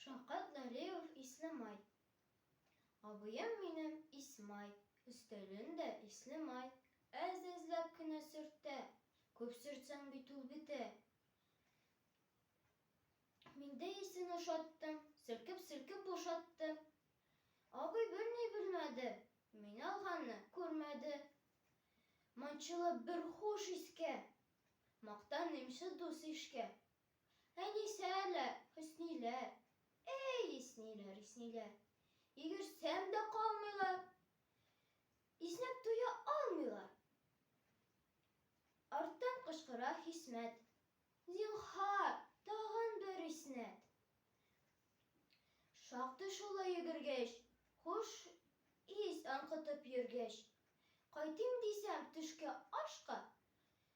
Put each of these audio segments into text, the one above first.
Шавкат Налиев Ислемай. Абыем минем Исмай, өстәлен дә Ислемай. Әз-әзләп кенә сөртә, күп сөртсәң бит ул бетә. Мин дә исен ошаттым, сөркеп-сөркеп бушаттым. Абый берни белмәде, мин алганны күрмәде. Манчылып бер хуш искә, мактаныймчы дус-ишкә. Әнисәләр, Хөсниләр, Әй, исниләр, исниләр, Йөгерсәм дә калмыйлар, Иснәп туя алмыйлар. Арттан кычкыра Хисмәт, Зинһар, тагын бер иснәт! Шактый шулай йөгергәч, Хуш ис аңкытып йөргәч, Кайтыйм дисәм төшке ашка,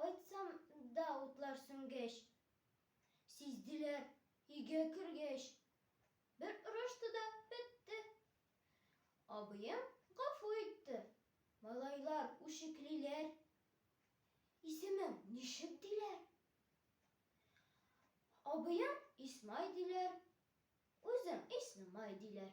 Кайтсам да утлар сүнгәч, сизделәр өйгә кергәч. Бер орышты да бетте. Абыем гафу итте. Малайлар үчеклиләр. Исемең ничек диләр? Абыем Исмай диләр, үзем Иснемай диләр.